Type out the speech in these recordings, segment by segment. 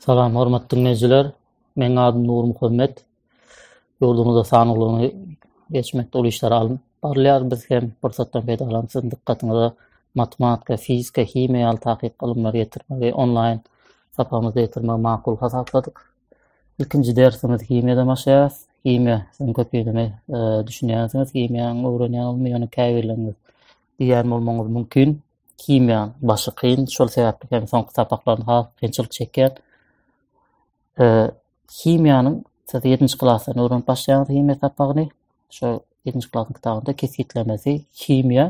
Salam hormatly dinleýjiler. Meň adym Nur Muhammet. Ýurdumyzda sanawlaryny geçmek uly işler alyn. Barlar biz hem pursatdan peýdalanyp siziň dikkatyňyza matematika, fizika, himiýa ýaly takyk ylymlary ýetirmegi onlaýn sapamyzda ýetirmegi makul hasapladyk. Ilkinji dersimiz himiýadan başlaýar. Himiýa, siz köpüňiz düşünýänsiňiz, himiýany öwrenýän bolmaly, ýöne käbirleriniz diýýän bolmagyňyz mümkin. himiýanyň başy kyn, şol sebäpli hem soňky sapaklarynda has kynçylyk çekýär. E, himiýanyň siz 7-nji klasdan öwrenip başlaýaňyz himiýa sapagyny. Şu 7-nji klasyň kitabynda kesgitlemesi himiýa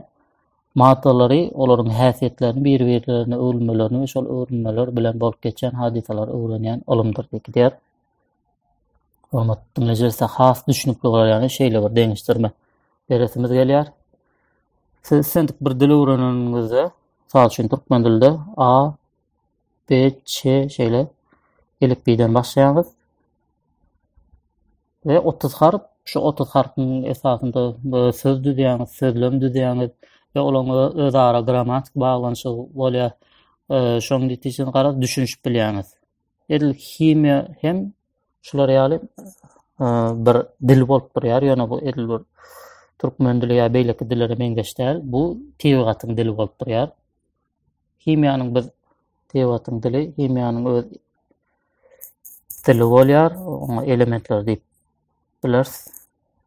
maddalary, olaryň häsiýetlerini, bir-birlerine öwrülmelerini we şol öwrülmeler bilen bolup geçen hadysalary öwrenýän ylymdyr diýip Hormat dinleyiciler has düşünüp bolar yani şeyle bir deňişdirme beresimiz gelýär. Siz sen bir dil öwreneniňizde, misal üçin türkmen dilinde A, B, Ç şeýle elipbiden başlaýarys. Ve 30 harf, şu 30 harfyň esasynda e, söz düzýäňiz, sözlem düzýäňiz ve olaň özara grammatik baglanyşygy bolýar. E, şoň netijesinde garaz düşünişip bilýäňiz. edil himiýa hem şular ýaly bir dil bolup durýar, ýöne bu edil bir türkmen dili ýa beýleki dillere meňzeş däl. Bu tebigatyň dili bolup durýar. Himiýanyň biz tebigatyň dili, himiýanyň öz dili bolýar, oňa elementler diýip bileris.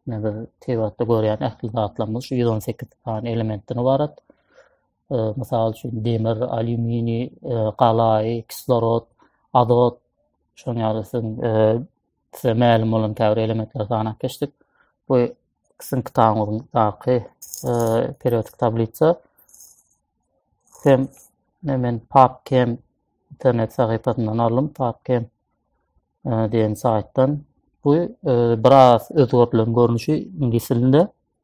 Biz tebigatda görýän ähli zatlarymyz şu 118 sany elementden ybarat. mysal üçin demir, alýuminiý, galaý, kislorod, azot, şoň ýaly siziň size mälim bolan käbir elementleri sanap geçdik. Bu sizin kitabyňyzdaky periodik tablisa hem men PubChem internet sahypasyndan aldım. PubChem diýen saýtdan. Bu biraz özgertilen görnüşi ingilis dilinde.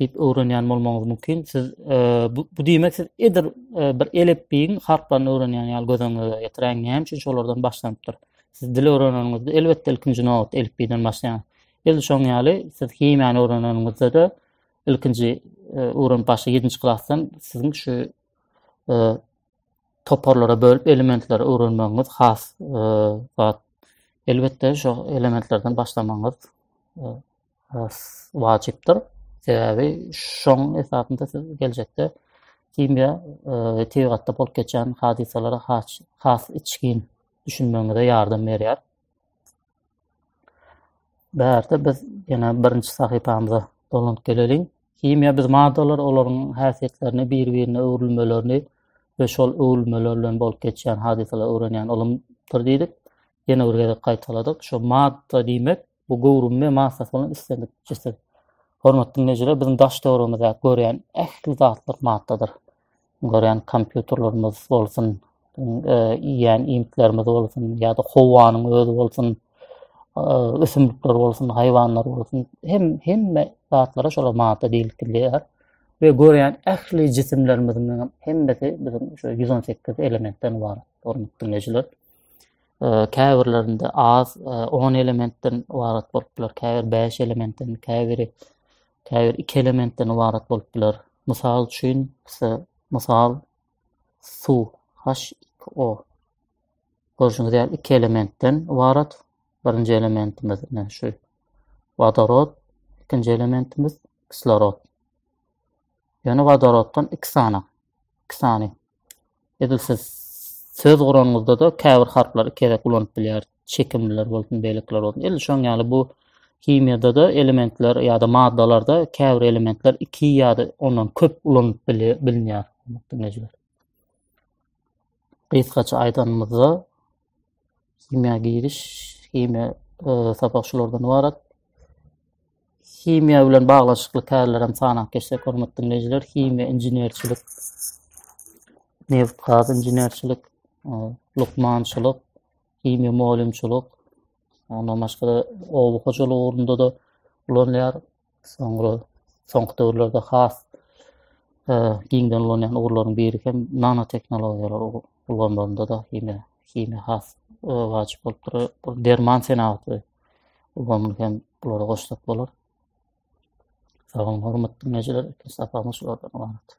diýip öwrenýän bolmagyňyz mümkin. Siz e, bu, bu diýmek siz edir e, bir elepbiýiň harplaryny öwrenýän ýaly göz öňüňize getiräň. Näme üçin şolardan başlanypdyr? Siz dil öwreneniňizde elbetde ilkinji nobat elepbiýden başlaýaň. Edil şoň ýaly siz himiýany öwreneniňizde de ilkinji e, öwrenip başla 7-nji klasdan siziň şu e, toparlara bölüp elementleri öwrenmegiňiz has e, zat. Elbetde şu elementlerden başlamagyňyz e, wajypdyr. Sebäbi şoň esasynda siz geljekde himiýa e, tebigatda bolup geçen hadysalara has has içgin düşünmegiňize ýardam berýär. Bärde biz ýene birinji sahypamyza dolanyp geleliň. Himiýa biz maddalar, olaryň häsiýetlerini, bir-birine öwrülmelerini we şol öwrülmeler bilen bolup geçýän hadysalary öwrenýän ylymdyr diýdik. Ýene bir gezek gaýtaladyk. Şu madda diýmek bu göwrümli massasy bolan islendik jisim. Hormatly dinleýjiler, biziň daş döwrümizde görýän ähli zatlar maddadyr. Görýän kompýuterlerimiz bolsun, e, iýýän iýmitlerimiz bolsun ýa-da howanyň özi bolsun, e, ösümlikler bolsun, haýwanlar bolsun, hem hemme zatlara şolar madda diýilip bilýär. we görýän ähli jisimlerimiziň hemmesi biziň şu 118 elementden ibarat. Hormatly dinleýjiler. käbirlerinde az on elementden ybarat bolup biler, käbir bäş elementden, käbiri käbir iki elementden ybarat bolup biler. Mysal üçin, mysal suw H2O. Görüşüňiz ýaly iki elementden ybarat. Birinji elementimiz ne şu wodorod, ikinji elementimiz kislorod. Ýöne wodoroddan iki sany, iki sany. Edil siz söz guranyňyzda-da käbir harplary iki gezek ulanyp bilýäris. Çekimliler bolsun, beýlekiler bolsun. Edil şoň ýaly bu himiýada-da elementler ýa-da maddalarda käbir elementler iki ýa-da ondan köp ulanyp bilinýär. Gysgaça aýdanymyzda, Himiýa giriş, himiýa e, sapak şulardan ibarat. Himiýa bilen baglaşykly kärler hem sanap geçsek, hormatly dinleýjiler, himiýa inženerçilik, neft gaz inženerçilik, e, lukmançylyk, himiýa mugallymçylyk, ondan başga-da oba hojalygy ugrunda da ulanýar. Soňra soňky döwürlerde has e, giňden ulanýan ugurlaryň biri hem nanoteknologiýalar ulanylanda da himiýa himiýa has e, wajyp bolup durýar. Bu derman senagaty ulanylyp hem bulara goşsak bolar. Sag boluň, hormatly dinleýjiler, ikinji sapagymyz şulardan ibarat.